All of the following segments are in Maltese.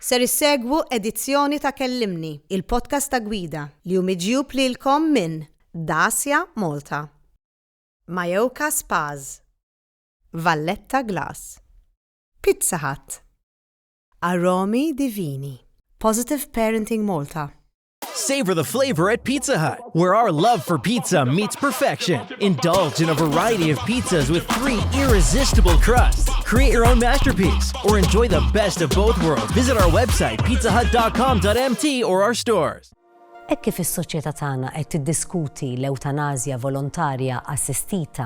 Ser issegwu edizzjoni ta' Kellimni, il-podcast ta' Gwida, li hu miġjub lilkom minn Dacia Malta, Mallorca Spas, Valletta Glass, Pizza Hut, Aromi Divini, Positive Parenting Malta, Savor the flavor at Pizza Hut, where our love for pizza meets perfection. Indulge in a variety of pizzas with three irresistible crusts. Create your own masterpiece or enjoy the best of both worlds. Visit our website pizzahut.com.mt or our stores. Hekk kif is-soċjetà tagħna qed tiddiskuti l-ewtanazja volontarja assistita,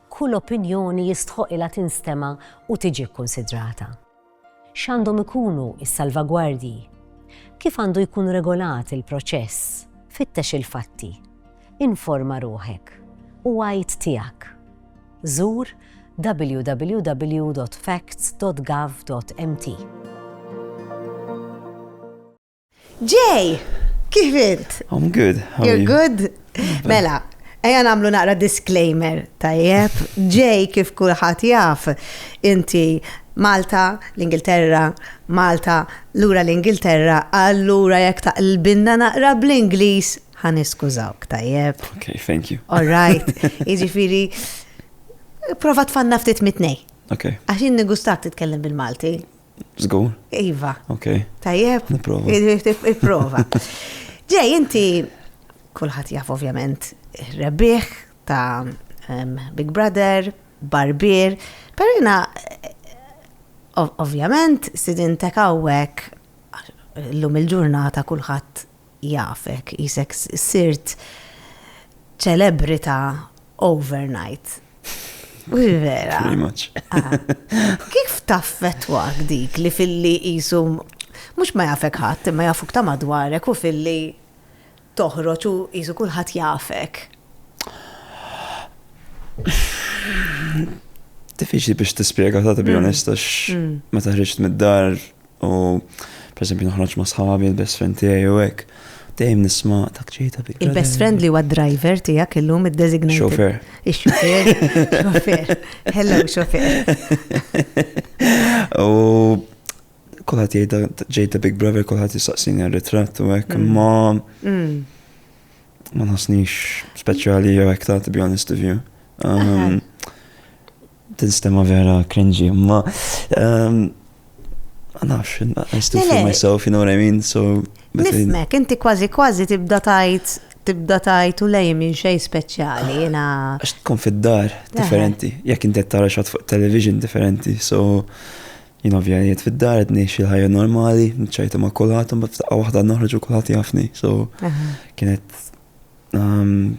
kull opinjoni jistħoqilha tinstema' u tiġi kkunsidrata. X'għandhom ikunu s-salvagwardji? Kif għandu jkun regolat il-proċess? Fittex il-fatti. Informa ruħek. U għid tiegħek. Żur www.facts.gov.mt. Ġej, kif int? I'm good. You're good? Mela, Eja namlu naqra disclaimer, tajjeb, ġej kif kulħadd jaf, inti Malta, l-Ingilterra, Malta, lura l-Ingilterra, allura jekk taqlbinna naqra bl-Ingliż, ħan iskużawk, tajjeb. Ok, thank you. All right, iġifiri, prova tfanna ftit mitnej. Ok. Għaxin negustak titkellem bil-Malti. Zgur? Iva. Ok. Tajjeb? Niprofa. Iprova. Ġej, inti kulħadd jaf ovvjament rebbieħ ta' Big Brother, Barbier, per jina ovvjament sidin tekawek l-lum il-ġurnata kulħadd jafek, qisek sirt ċelebrita overnight. Vera. Pretty much. Ah. Kif taffetwak dik li filli jisu mux ma jafek ħadd imma jafuk ta' madwarek u filli toħroġ u jisu kulħadd jafek. Diffiċli biex tispjega ta' bi mm. onesta mm. ma taħriġt mid-dar U per esempio noħroġ ma' sħabi, il-best friend tiegħi u hekk. Dejjem nisma' ta' ċejta bi. Il-best friend li huwa driver tiegħek illum id-designated. Xofer. Ix-xofer. Xofer. Hello, xofer. U kulħadd jgħid ġejta Big Brother, kulħadd jistaqsini r-ritratt u hekk, mm. ma mm. ma nasnix speċjali jew hekk ta' to be honest with you. Um, Tinstema vera cringy, ma. Ehm, nafx, I still feel myself, you know what I mean? So. Nifmek, inti kważi kważi tibda tajt, tibda tajt u lej minn xej speċjali, jina. Għax tkun fid-dar differenti, jekk inti tara xat fuq television differenti, so. Jien ovvjament fid-dar qed ngħix il-ħajja normali, nċajtu ma' kulħadd u f'daqqa waħda noħroġ u kulħadd jafni. So kienet ehm,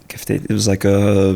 kif tgħid, it was like a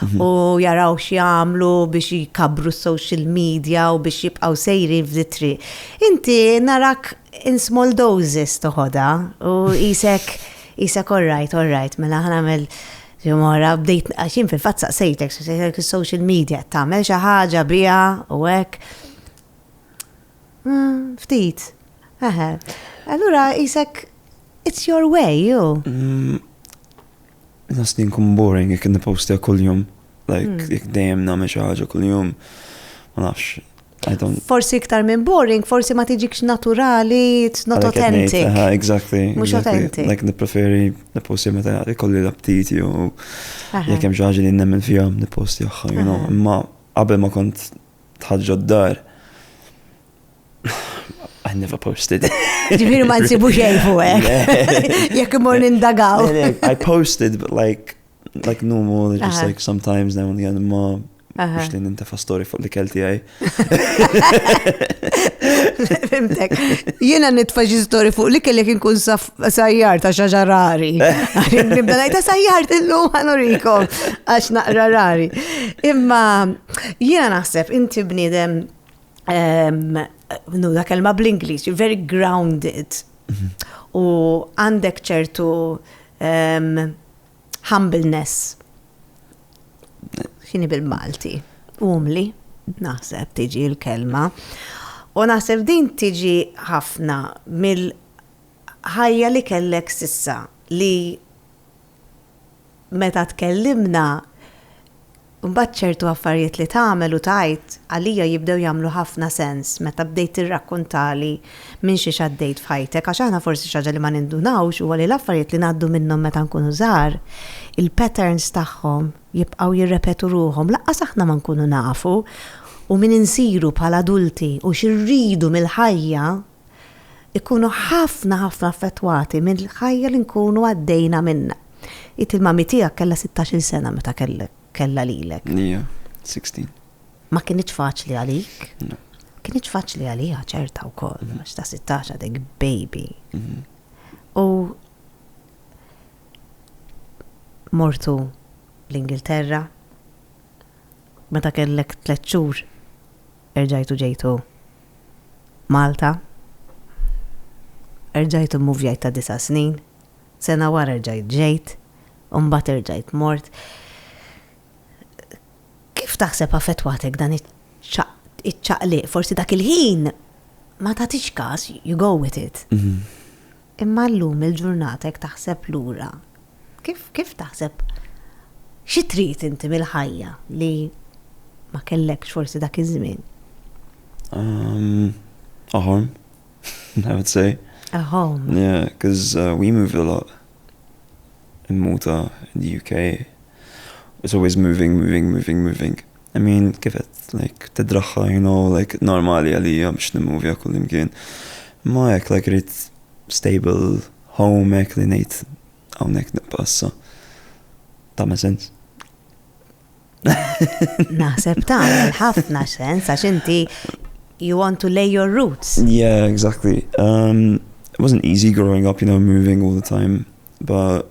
u jaraw x'jagħmlu biex jkabru social media u biex jibqgħu sejrin f'ditri. Inti narak in small doses toħodha u isek isek all right, all right, mela ħanamel Jumora, bdejt, għaxin fil-fat saqsejtek, saqsejtek il-social media, tamel xaħġa bija u għek. Mm, ftit. Allura, jisek, it's your way, you. Mm, Nħoss li nkun boring jekk nipostja kuljum. Like, hmm. jekk dejjem nagħmel xi ħaġa kuljum. Ma nafx. Forsi iktar minn boring, forsi ma tiġikx naturali, it's not authentic. Exactly. Mux authentic. Like nipreferi niposti meta ikolli l-aptiti u jekk hemm xi ħaġa li nemmen fija niposti aħħa, you know. Imma qabel ma kont tħaġġa d-dar, I never posted. Ġifiri ma nsibu xejn fuq hekk. Jekk imur nindagaw. I posted, but like, like normal, just like sometimes now and again, ma Biex li nintefa story fuq li kelti għaj. Fimtek. Jena nitfa xi story fuq li kellek inkun sajjar ta' xaġa rari. Nibda ngħid ta' sajjar illum ħanurikom għax naqra rari. Imma jiena naħseb inti bniedem nu da kelma bl-Inglis, you're very grounded. Mhm. U għandek ċertu humbleness. Xini bil-Malti? Umli, naħseb tiġi l-kelma. U naħseb din tiġi ħafna mill-ħajja li kellek sissa li meta tkellimna, imbagħad ċertu affarijiet li tagħmel u tgħid għalija jibdew jagħmlu ħafna sens meta bdejt tirrakkuntali minn xiex għaddejt f'ħajtek għax aħna forsi xi ħaġa li ma nindunawx huwa li l-affarijiet li ngħaddu minnhom meta nkunu żgħar, il-patterns tagħhom jibqgħu jirrepetu ruħhom lanqas aħna ma nkunu nafu u min insiru bħala adulti u xi rridu mill-ħajja ikunu ħafna ħafna affettwati mill-ħajja li nkunu għaddejna minnha. Int il-mami tiegħek kellha sittax-il sena meta kellha lilek. Hija, sixteen. Ma kinitx faċli għalik? Le. Kinitx faċli għaliha ċerta wkoll, għax ta' sittax għadek baby. Mhm. U mortu l-Ingilterra, meta kellek tliet xhur erġajtu ġejtu Malta. Erġajt immuvjajt ta' disa' snin, sena wara erġajt ġejt, u mbagħad erġajt mort. Kif taħseb affettwatek dan iċ-ċaqliq? Forsi dak il-ħin ma tagħtix każ, you go with it. Imma llum il-ġurnata jekk taħseb lura, kif kif taħseb xi trid inti mill-ħajja li ma kellekx forsi dak iż-żmien? A home, I would say. A home. Yeah, because uh, we moved a lot in Malta, in the UK. It's always moving, moving, moving, moving. I mean kif qed like tidraħħa you know like normali għalija biex nimmovja kullimkien. Ma hekk like rrid stable home hekk li ngħid hawnhekk nibqa' issa. Ta' ma sens? Naħseb tagħmel ħafna sens għax inti you want to lay your roots. Yeah, exactly. Um, it wasn't easy growing up, you know, moving all the time, but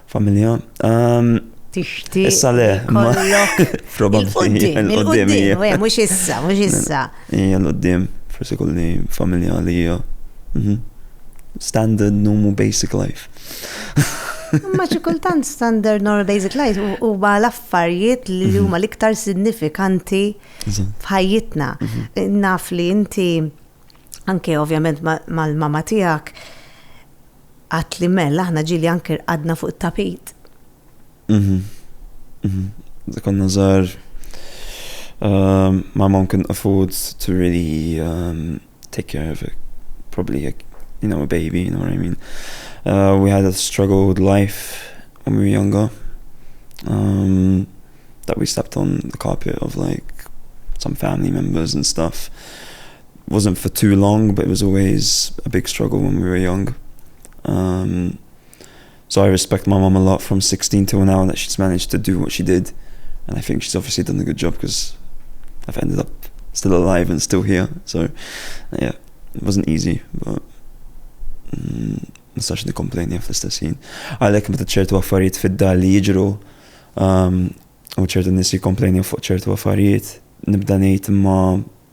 Familja? Ehm, Tixtieq. Issa le, ma. Probabbli. Il-qoddim, eh, mhux issa, mhux issa. Hija l-qoddim, forsi kolli familja li hija. Mhm. Standard normal basic life. Ma xi kultant standard normal basic life u ba l-affarijiet li mhm. huma l-iktar signifikanti f'ħajjitna. Mhm. Naf li inti anke ovvjament mal-mama tiegħek Għadt li Mel, aħna ġieli anke rqadna fuq it-tapit. Mhm. Mhm. Meta konna żgħar, ehm, ma mom couldn't afford to really ehm, take care of it. Probably like, you know, a baby, you know what I mean? Uh, we had a struggle with life when we were younger. Um, that we slept on the carpet of like some family members and stuff. wasn't for too long but it was always a big struggle when we were young um, so I respect my mum a lot from 16 till now that she's managed to do what she did and I think she's obviously done a good job because I've ended up still alive and still here so yeah it wasn't easy but mm, nistax nikomplejni għaf l-istess jien. Għalek meta ċertu affarijiet fid-dar li jiġru um, u ċertu nis jikomplejni fuq ċertu affarijiet, nibda ngħid ma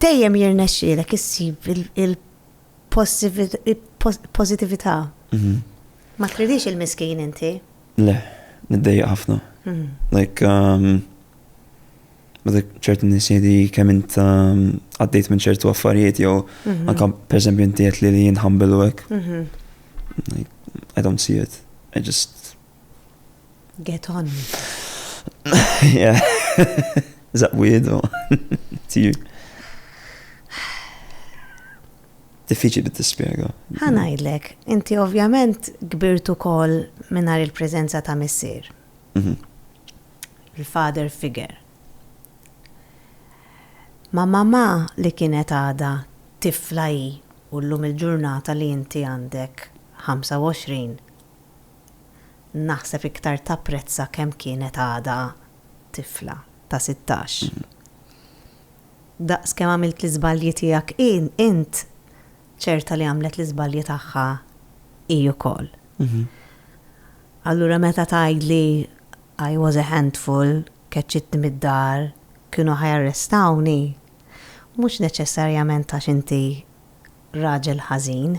Dejjem jirnexxielek issib il-pożittività. Mhm. Ma tridix il-miskin inti? Le, niddejja ħafna. Mhm. Like, um, Għadek ċertu nisidi kemm int um, għaddejt minn ċertu affarijiet jew mhm. anka per esempio inti qed li jinħambilu hekk. I don't see it. I just Get on. Yeah. Is that weird or to you? Diffiċi li tispjega. Ħanajdlek, inti ovvjament kbirtu kol minnar il-prezenza ta' missier. Mhm. Il-father figure. Ma mamma li kienet għada tifla hi u llum il-ġurnata li inti għandek 25 naħseb iktar tapprezza kemm kienet għadha tifla ta' sittax. Daqs kemm għamilt l-iżbalji tiegħek int, ċerta li għamlet l-iżbalji tagħha hi wkoll. Allura meta tgħidli I was a handful, keċċitni mid-dar, kienu ħa jarrestawni, mhux neċessarjament għax inti raġel ħażin,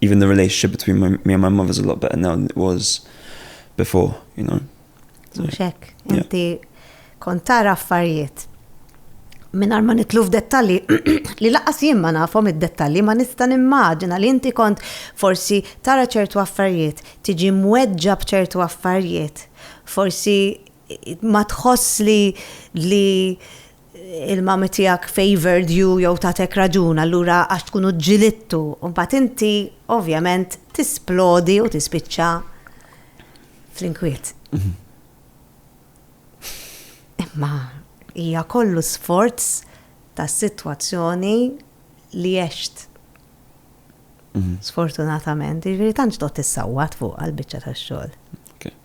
even the relationship between my, me and my mother is a lot better now than it was before, you know. Muxek, inti kont tara affarijiet. Minn ma nitlu f'dettalji, li laqas jien ma nafhom id-dettalji ma nista' nimmaġina li inti kont forsi tara ċertu affarijiet, tiġi mweġġa b'ċertu affarijiet, forsi ma tħoss li li il-mommy tiegħek favored you jew tatek raġun allura għax tkunu ġġilidtu, u mbagħad inti ovvjament tisplodi u tispiċċa fl-inkwiet. Mhm. Imma hija kollu sforz ta' situazzjoni li jesht. Mhm. Sfortunatament, ġviri jiġifieri tantx dot tissawat fuq għal-bicċa ta' xol.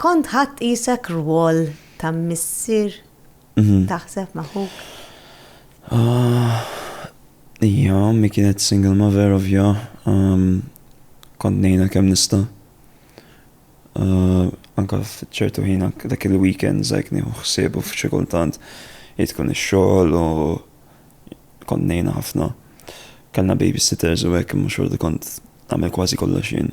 Kont ħadt qisek rwol ta' missier taħseb ma' ħuk? Ija, ommi kienet single mother ovvja. Kont ngħinha kemm nista'. Anke f'ċertu ħin anke dak il-weekends hekk nieħu ħsiebu f'xi kultant hi tkun ix-xogħol u kont ngħinha ħafna. Kellna babysitters u hekk imma xorta kont nagħmel kważi kollox jien.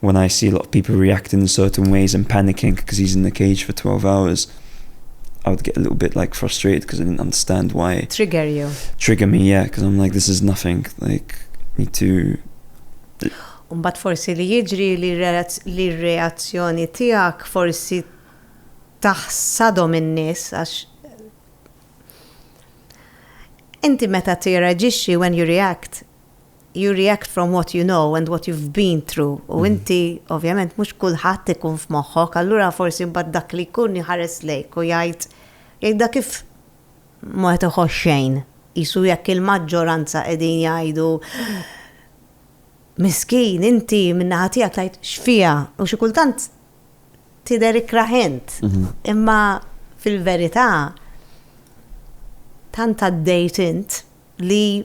When I see a lot of people reacting in certain ways and panicking cuz he's in the cage for 12 hours I would get a little bit like frustrated cuz I didn't understand why. Trigger you. Trigger me, yeah, cuz I'm like this is nothing, like need to U mbagħad forsi li jiġri li li r-reazzjoni tiegħek forsi taħsadhom in-nies għax inti meta tirreaġixxi when you react You react from what you know and what you've been through u inti ovvjament mhux kulħadd ikun f'moħħok allura forsi mbagħad dak li jkun iħares lejk u jgħid jgħidha kif ma qed iħoss xejn. Qisu jekk il-maġġoranza qegħdin jgħidu miskin inti min-naħa tiegħek tgħid x'fiha u xi kultant tidher ikrah int. Mhm. Imma fil-verità tant għaddejt int li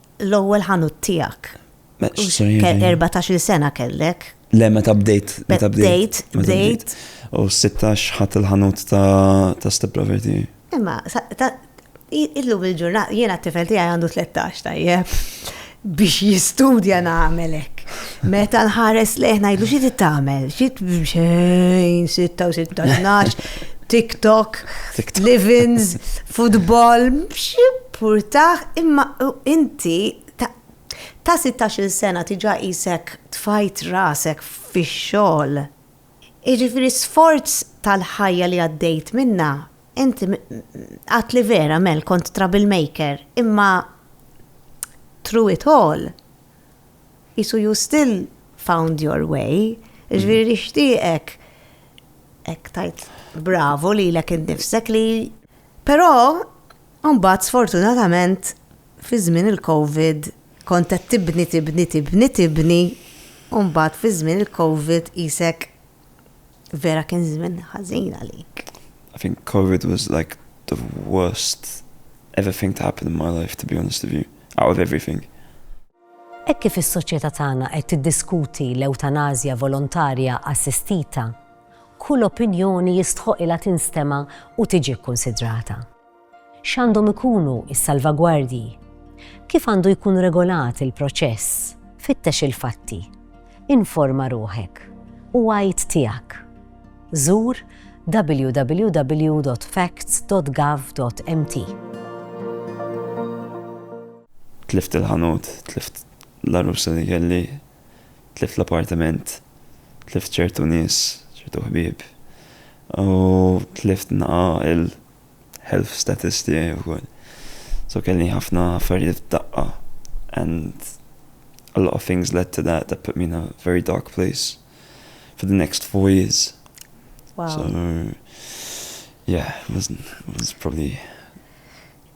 L-ewwel ħanut tiegħek. Erbatax-il sena kellek. Le, meta bdejt. Meta bdejt. Bdejt. U 16 ħadd il-ħanut ta' Step Lover tiegħi. Imma, illum il-ġurnat, jiena t-tifel tiegħi għandu 13 tajjeb biex jistudja nagħmelek. Meta nħares leħna jgħidu xi tagħmel, xi xejn 16, 12, TikTok, Livins, football, xi Purtah imma inti ta' ta' sittax-il sena diġà qisek tfajt rasek fix-xogħol. Jiġifieri sforz tal-ħajja li għaddejt minnha inti għedt li vera Mel kont trouble maker imma through it all qisu you still found your way. Jiġifieri nixtieqek hekk tgħid bravo lilek innifsek li però Imbagħad sfortunatament fi żmien il-Covid kont qed tibni tibni tibni tibni u mbagħad fi żmien il-Covid qisek vera kien żmien ħażin għalik. I think Covid was like the worst ever thing to happen in my life to be honest with you, out of everything. Hekk kif is-soċjetà tagħna qed tiddiskuti l-ewtanażja volontarja assistita, kull opinjoni jistħoqqilha tinstema' u tiġi kkunsidrata. X'għandhom ikunu s-salvagwardji? Kif għandu jkun regolat il-proċess? Fittex il-fatti. Informa ruħek. U għid tiegħek. Żur www.facts.gov.mt. Tlift il-ħanut, tlift l-għarusa li kelli, tlift l-appartiment, tlift ċertu nies, ċertu ħbieb, u tlift naqa' il-health status tiegħi wkoll. So kelli ħafna affarijiet f'daqqa and a lot of things led to that that put me in a very dark place for the next four years. Wow. So yeah, it was, it was probably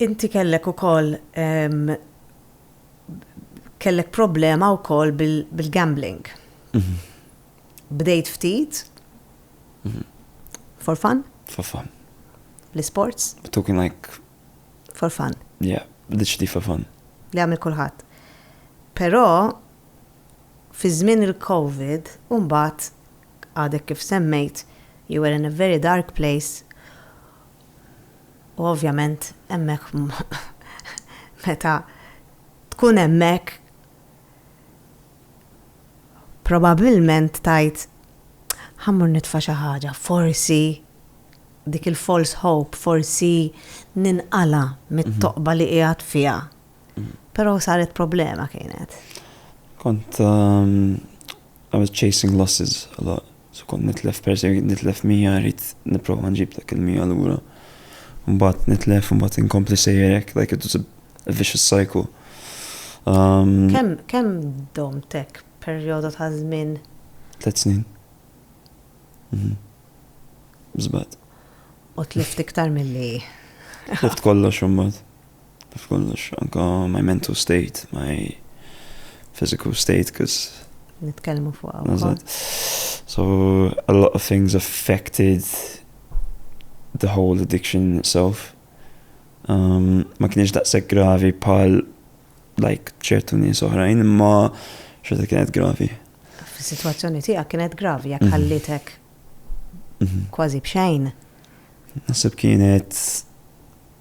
Inti kellek ukoll kellek problema wkoll bil-gambling. Bdejt ftit for fun? For fun. L-sports? Talking like for fun. Yeah, literally for fun. Li għamil kulħadd. Però fi żmien il-COVID, mbagħad għadek kif semmejt, you were in a very dark place U ovvjament hemmhekk meta tkun hemmhekk probabbilment tajt ħammur nitfa' xi ħaġa, forsi dik il-false hope, forsi ninqala mit-toqba li qiegħed fiha. Però saret problema kienet. Kont um, I was chasing losses a lot. Se kont nitlef persuni, kont nitlef mija, rrid nipprova nġib dak il-mija lura. Mbagħad nitlef, mbagħad inkompli sejjer hekk, like it was a vicious cycle. Um, kemm kemm domtek perjodu ta' żmien? Tliet snin. Mhm. Żbad. U tlift iktar milli. Tlift kollox imbagħad. Taf kollox, anka my mental state, my physical state, cause. Nitkellmu fuq għawkol. So, a lot of things affected the whole addiction itself. Um, ma kienx daqseg gravi pal like ċertu nies oħrajn, imma xorta kienet gravi. Fis-sitwazzjoni tiegħek kienet gravi jekk mhm. ħallitek mhm. kważi b'xejn. Nasib kienet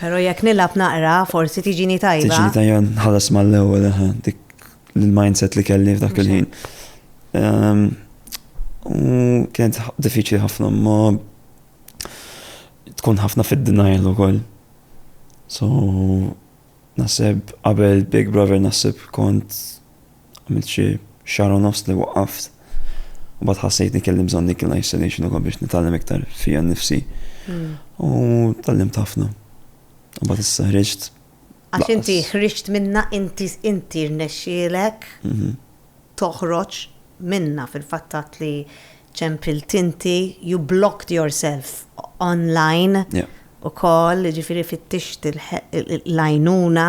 Pero jekk nilgħab naqra forsi tiġini tajba. Tiġini tajba nħallas mal-ewwel eħe dik l-mindset li kelli f'dak il-ħin. Ehm, u kienet diffiċli ħafna ma tkun ħafna fid-denial ukoll. So naseb qabel Big Brother naseb kont Għamilt xi xahar u nofs li waqqaft. U bad ħassejtni kelli bżonn dik l-isolation ukoll biex nitgħallem iktar fija nnifsi. Hmm. U tgħallimt ħafna. U bad issa ħriġt. Għax inti ħriġt minna inti inti rnexxielek mhm. toħroġ minna fil-fattat li ċempilt inti, you blocked yourself online u koll, ġifiri fittixt l-lajnuna.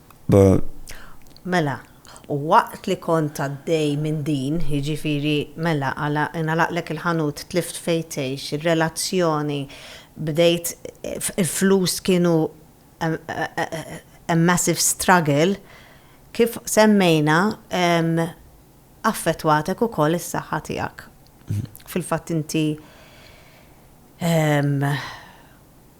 Mela, u waqt li kont għaddej minn din, jiġifieri, mela, ingħalaqlek il-ħanut, tlift fejn tgħix, ir-relazzjoni, bdejt, il-flus kienu a massive struggle, kif semmejna, affettwatek ukoll is-saħħa tiegħek. Fil-fatt inti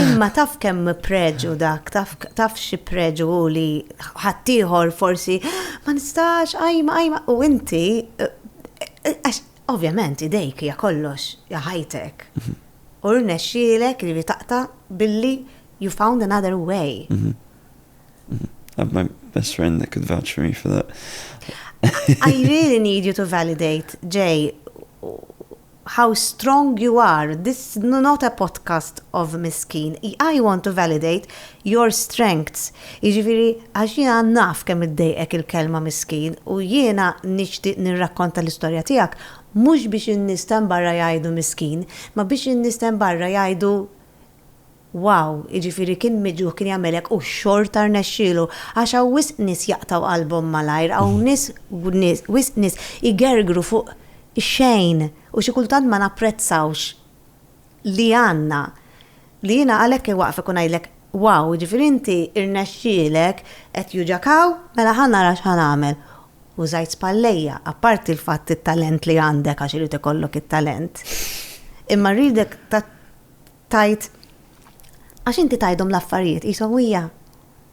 Imma taf kemm preġu dak, taf xi preġu li ħaddieħor forsi ma nistax għajma għajma u inti għax ovvjament idejk hija kollox ja ħajtek. Mhm. U rnexxielek li taqta billi you found another way. Mhm. Mhm. Have my best friend that could vouch for me for that. I really need you to validate, Jay, How strong you are, this not a podcast of miskin, I want to validate your strengths, jiġifieri għax jiena naf kemm iddejqek il-kelma miskin u jiena nixtieq nirrakkonta l-istorja tiegħek mhux biex in-nies t'hemm barra jgħidu miskin, ma biex in-nies t'hemm barra jgħidu, Wow, jiġifieri kien miġjuħ kien jagħmel hekk u xorta rnexxielu. Għax hawn wisq nies jaqtgħu qalbhom malajr, hawn nies wisq nies igergru fuq ix-xejn u xi kultant ma napprezzawx li għandna. Li jiena għalhekk iwaqfek u ngħidlek, wow, jiġifieri inti rnexxielek, qed juġgħek hawn, mela ħa nara x'ħa nagħmel. U żgħajt spallejja, apparti l-fatt it-talent li għandek għax irid ikollok it-talent. Imma rridek Tgħid, Għax inti tgħidhom l-affarijiet qishom hija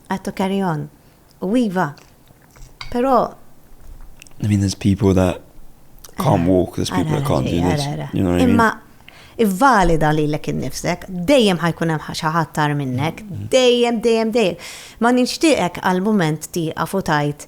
had to carry on. U iva, però I mean, there's people that can't eh, walk, there's people that can't do this. You know what I mean? Imma valida li l-ek nifsek, dejjem ħajkun hemm ħaxaħat tar minnek, mm-hmm. dejjem, dejjem, dejjem. Ma nixtieqek għal-moment ti għafutajt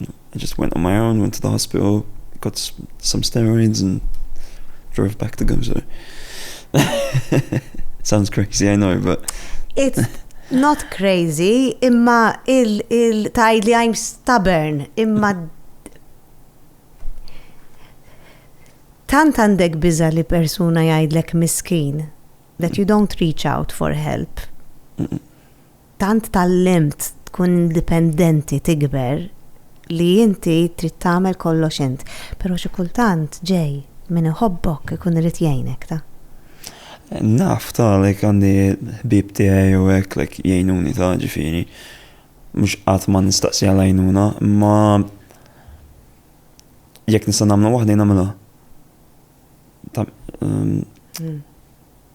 I just went on my own, went to the hospital, got some steroids and drove back to Gumsor. Sounds crazy, I know, but... It's not crazy, imma il-taj li I'm stubborn, imma tant għandek biza li persuna jgħidlek miskin that you don't reach out for help. Mm -mm. Tant tgħallimt tkun indipendenti tikber li inti trid tagħmel kollox int. Però xi kultant ġej min iħobbok ikun irid jgħinek ta. Naf ta like għandi ħbieb tiegħi u hekk like jgħinuni ta ġifieri mhux qatt ma nistaqsi għal għajnuna imma jekk nista' nagħmilha waħdi nagħmilha. Ta'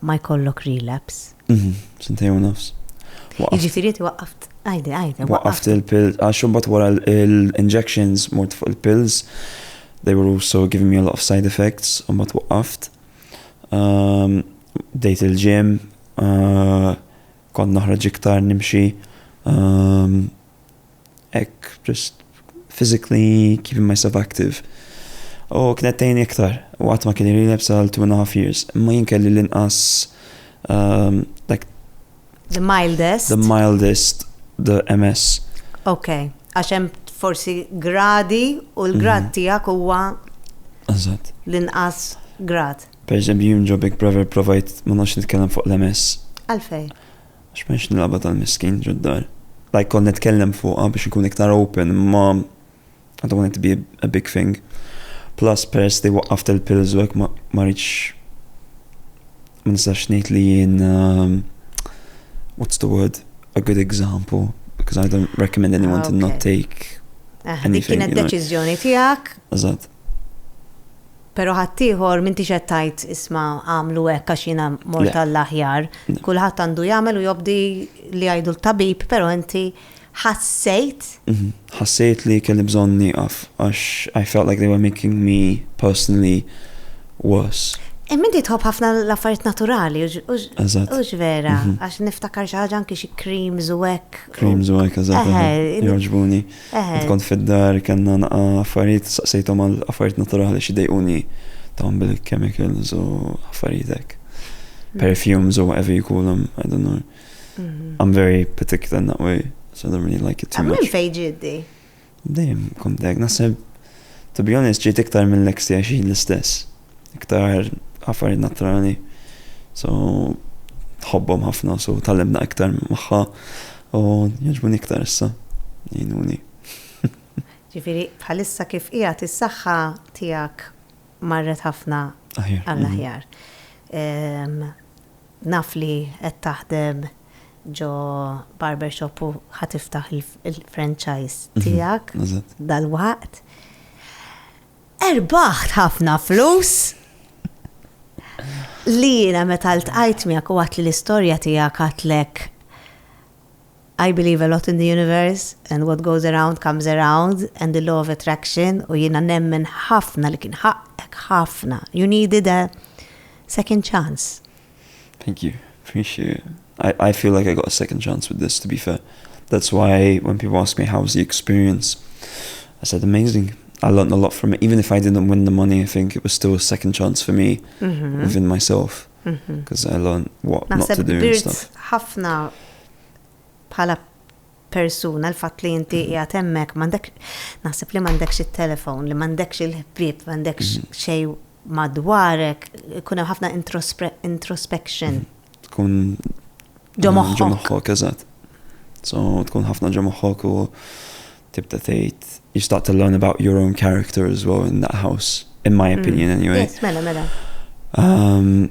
ma jkollok relapse. Mhm, sentej u nofs. Jiġifieri ti waqqaft, għajdi, għajdi. Waqqaft il-pills, għax imbagħad wara l-injections mort fuq il-pills, they were also giving me a lot of side effects, u mbagħad waqqaft. Ehm, dejt il-ġim, eh, kont naħraġ iktar nimxi, ehm, hekk just physically keeping myself active. U kienet tgħinni iktar, u qatt ma kien li lebsa għal two and a half years, imma jien kelli l-inqas um, like The mildest? The mildest, the MS. Ok, għax hemm forsi gradi u l-grad mhm. tiegħek huwa Eżatt. L-inqas grad. Per eżempju, jien ġobek brother provajt ma nafx nitkellem fuq l-MS. Għalfej? Għax m'hemmx l-lagħba tal-miskin ġod-dar. Like kont nitkellem fuqha biex inkun iktar open imma I don't want it to be a big thing. Plus peress li waqqaft il-pills u hekk ma ma rridx ma nistax ngħid li jien um, what's the word a good example because I don't recommend anyone to not take Ah, dik anything. kienet you know. deċiżjoni tiegħek. Eżatt. Pero ħaddieħor m'intix qed tgħid isma' agħmlu hekk għax jiena mort għall-aħjar. Kulħadd għandu jagħmel u jobdi li jgħidu l-tabib, pero inti ħassejt? Mhm. Ħassejt li kelli bżonn nieqaf għax I felt like they were making me personally worse. Imma e, inti tħobb ħafna l-affarijiet naturali, ux vera, mhm. għax niftakar xi ħaġa anki xi creams u hekk. Creams u hekk, eżatt. Joġbuni. Eħe. Kont fid-dar kellna naqgħa affarijiet saqsejthom għal affarijiet naturali xi dejquni dawn bil-chemicals u affarijiet hekk. Perfumes u whatever you call them, I don't know. I'm very particular in that way, so I don't really like it too much. Minn fejn ġieti? Dejjem kont hekk, naħseb to be honest ġiet iktar mill-eks tiegħi xi l-istess. iktar affarijiet naturali. So, tħobbhom ħafna, so tal-limna iktar magħha u jogħġbuni iktar issa. Jgħinuni. Ġifieri bħalissa kif qiegħed is-saħħa tiegħek marret ħafna għall-aħjar. Mhm. Naf li qed taħdem ġo barbershop u ħa tiftaħ il-franchise mhm. tiegħek dal-waqt. Erbaħt ħafna flus! Li jiena meta ltqajt miegħek u għatli l-istorja tiegħek għatlek I believe a lot in the universe and what goes around comes around and the law of attraction u jiena nemmen ħafna li kien ħaqqek ħafna. You needed a second chance. Thank you. Appreciate it. I, I feel like I got a second chance with this, to be fair. That's why when people ask me how was the experience, I said amazing. I learned a lot from it. Even if I didn't win the money, I think it was still a second chance for me mm -hmm. within myself. Because mm-hmm. mm -hmm. I learned what not to do and stuff. ħafna bħala persuna l-fatt li inti mm-hmm. qiegħed hemmhekk m'għandek naħseb li m'għandekx it-telefon, li m'għandekx il-ħbieb, m'għandekx mm-hmm. xejn madwarek, ikun hemm ħafna introspection. Tkun ġo moħħok. eżatt. So tkun ħafna ġo moħħok u tibda tgħid you start to learn about your own character as well in that house, in my mm. opinion anyway. Yes, mela, mela. Um,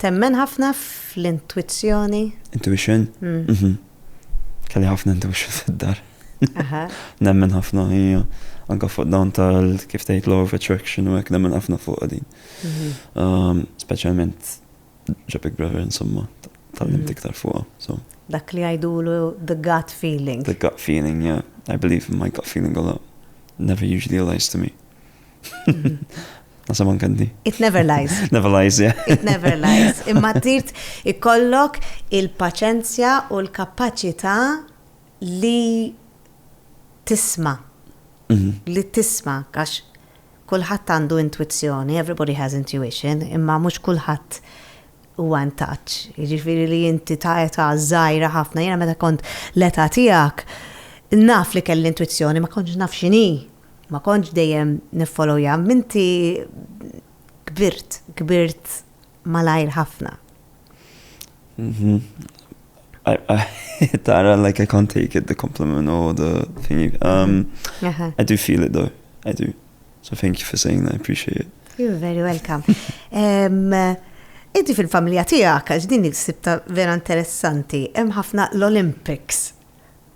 Temmen ħafna fl-intwizzjoni? Intuition? Mhm. Kelli ħafna intuition fid-dar. Nemmen ħafna, hija. Anka fuq dawn tal kif tgħid law of attraction u hekk nemmen ħafna fuq din. Mhm. Um, Speċjalment ġo Big Brother insomma, tal-lim mhm. iktar fuqha. So. Dak li għajdulu the gut feeling. The gut feeling, yeah. I believe in my gut feeling a lot. Never usually lies to me. Nasa man kandi. It never lies. Never lies, yeah. It never lies. Imma tirt ikollok il-paċenzja u l-kapacita li tisma. Mhm. Li tisma, għax kullħat għandu intuizzjoni, everybody has intuition, imma mux kullħat u għan taċ. Ġifiri li jinti ta' eta zaħira ħafna, jena meta kont l-eta tijak, naf li kell intuizzjoni, ma konġ naf xini. Ma kontx dejjem niffolowja, minti kbirt, kbirt malajr ħafna. Tara, like I can't take it, the compliment or the thing. Um, uh-huh. I do feel it though, I do. So thank you for saying that, I appreciate it. You're very welcome. um, Inti fil-familja tiegħek għax din il-sibta vera interessanti, hemm ħafna l-Olympics.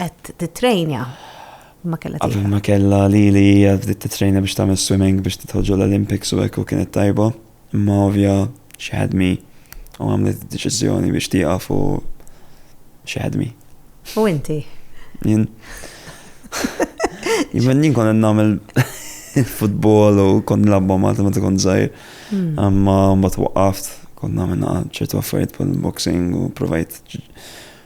qed tittrejnja ma kellha tieħed. Qabel ma kellha lili hija bdiet tittrejna biex tagħmel swimming biex tidħol ġol Olympics u hekk u kienet tajba. Imma ovvja xi ħadmi u għamlet id-deċiżjoni biex tieqaf u xi ħadmi. U inti? Jien. Jien jien kont nagħmel futbol u kont nilabba Malta meta kont żgħir. Hmm. Imma mbagħad waqaft, kont nagħmel ċertu affarijiet bħal boxing u provajt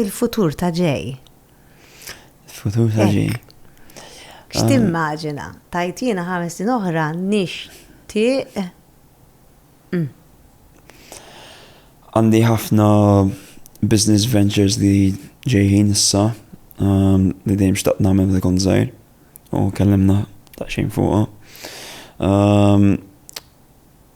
Il-futur ta' ġej. Il-futur ta' ġej. X'timmaġina? Tajt jiena ħames snin oħra nixtieq. Mm. Għandi ħafna business ventures li ġejħin issa um, li dejjem xtaqt nagħmel li kont żgħir u kellimna ta' xejn fuqha. Um,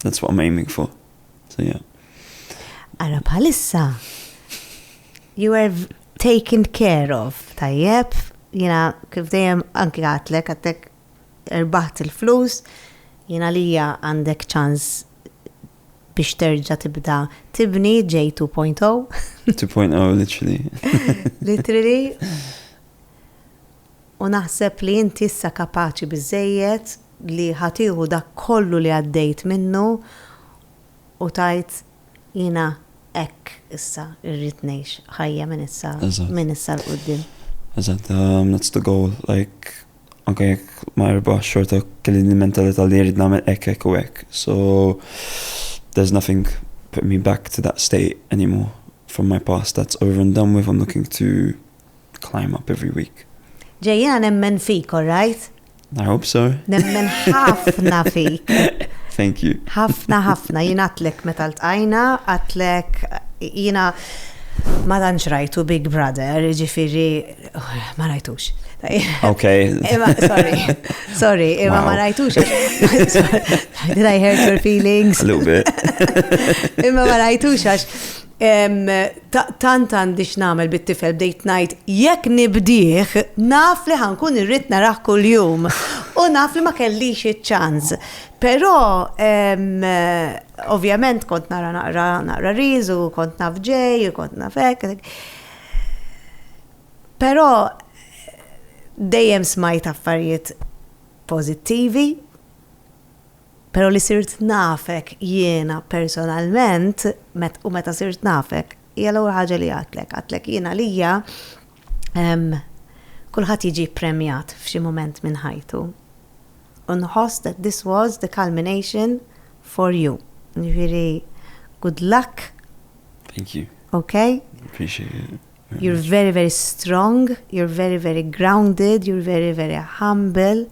That's what I'm aiming for. So yeah. Ara bħalissa, you are taken care of, tajjeb, jina kif dejjem anki għatlek, għatlek erbaħt il-flus, jina lija għandek ċans biex terġa tibda tibni J 2.0. 2.0, literally. literally. U naħseb li inti issa kapaċi biżżejjed li ħa tieħu dak kollu li għaddejt minnu u tgħid, Jiena hekk issa rrid ngħix ħajja minn issa minn issa 'l quddiem. Eżatt, um, that's the goal. Like, anke jekk ma erbaħx xorta kelli l-mentalità li jrid nagħmel hekk hekk u hekk. So there's nothing put me back to that state anymore from my past. That's over and done with. I'm looking to climb up every week. Ġej, jiena nemmen fik, all right? I hope so. Nemmen ħafna fik. Thank you. ħafna, ħafna. Jien għatlek meta l-tqajna, għatlek jiena ma danx rajtu Big Brother, ġifiri, oh, ma rajtux. Ok. Ema, sorry, sorry, ema ma rajtux. Did I hurt your feelings? A little bit. Ema ma rajtux għax Tant għandi x'nagħmel bit-tifel bdejt ngħid jekk nibdih naf li ħa nkun irrid narah kuljum u naf li ma kellix iċ-ċans. Però ovvjament kont nara naqra naqra Reels u kont naf ġej u kont naf hekk. Però dejjem smajt affarijiet pożittivi. Pero li sirt nafek jiena personalment, u meta sirt nafek, hija l-ewwel ħaġa li għadtlek. Għadtlek jien għalija kulħadd jiġi ppremjat f'xi mument minn ħajtu. U nħoss that this was the culmination for you. Ġifieri, good luck. Thank you. Okay? Appreciate it. You're very very strong, you're very very grounded, you're very very humble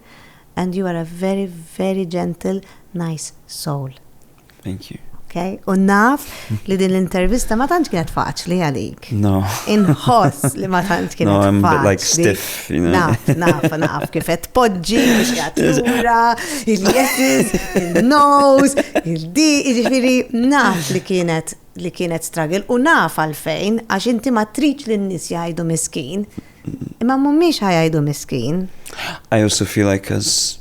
and you are a very very gentle nice soul. Thank you. Okay? U naf li din l-intervista ma tantx kienet faċli għalik. No. Inħoss li ma tantx kienet faċli. No, I'm like stiff, you know. Naf, naf, naf, kifet poġġi, biex jgħatura, il-yeses, il-nose, il-di, ġifiri, naf li kienet li kienet struggle u naf għalfejn għax inti ma tridx li n-nies jgħidu miskin. Imma mhumiex ħajgħidu miskin. I also feel like as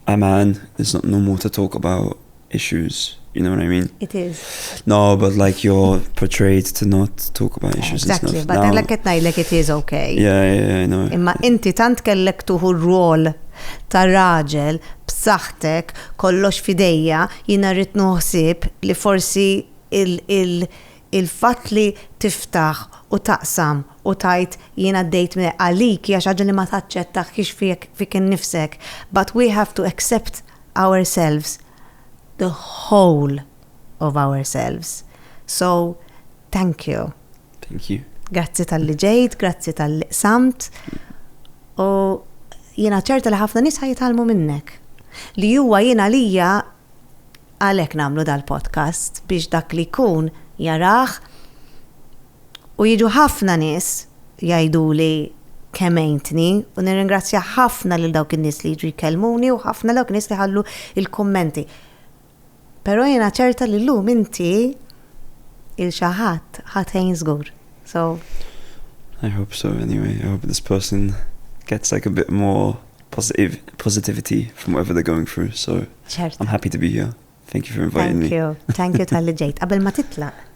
a man, it's not normal to talk about issues. You know what I mean? It is. No, but like you're portrayed to not talk about issues exactly, and stuff. But now, like it like it is okay. Yeah, yeah, I know. Imma inti tant kellek tuħu r-rol ta' raġel b'saħħtek kollox fidejja Jiena rrid nuh ħsieb li forsi il-fatt li tiftaħ u taqsam u tgħid jien għaddejt minn hekk għalik hija xi ħaġa li ma taċċettahkx fik innifsek but we have to accept ourselves the whole of ourselves so thank you. Thank you. Grazzi tal-li ġejt, grazzi tal-li qsamt. U jiena ċerta li ħafna nisa jitalmu minnek. Li huwa jiena lija għalek namlu dal-podcast biex dak li kun jaraħ u jiġu ħafna nis jajdu li kemejntni u nirringrazzja ħafna lil dawk in-nies li jiġu jkellmuni u ħafna dawk nis li ħallu il-kommenti. Però jiena ċerta li llum inti 'il xi ħadd ħa tgħin żgur. So. I hope so anyway, I hope this person gets like a bit more positivity from whatever they're going through, so. Ċerta. I'm happy to be here. Thank you for inviting me. Thank you, thank you tal-li ġejt. Qabel ma titlaq.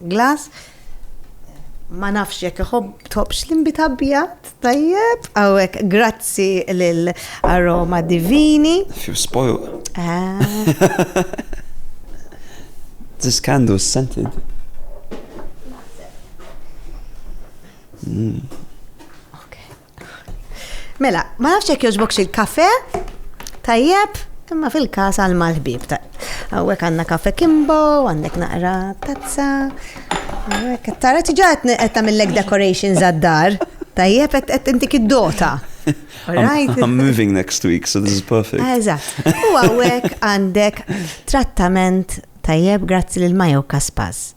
Glass, Ma nafx jekk iħobb tħobbx l-inbit abjad, tajjeb, għawek, grazzi l-aroma divini. Few spoil. Ah. This candle is scented. Mm. Mela, ma nafx jekk jogħġbok xi kafe tajjeb, imma fil-każ għal mal-ħbib ta' Għawek għanna kafe kimbo, għandek naqra tazza. Tara tiġa qed tagħmillek decorations għad-dar. Tajjeb qed intik id-dota. I'm moving next week, so this is perfect. Ah, eżatt. U għawek għandek trattament tajjeb grazzi lil Majo Kaspas.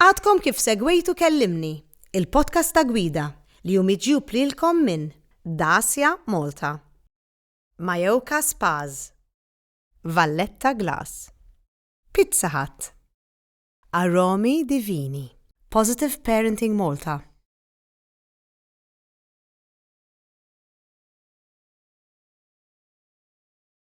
Għadkom kif segwejtu Kellimni, il-podcast ta' gwida li hu miġjub lilkom minn Dacia Malta, Majoka Spas, Valletta Glass, Pizza Hut, Aromi Divini, Positive Parenting Malta,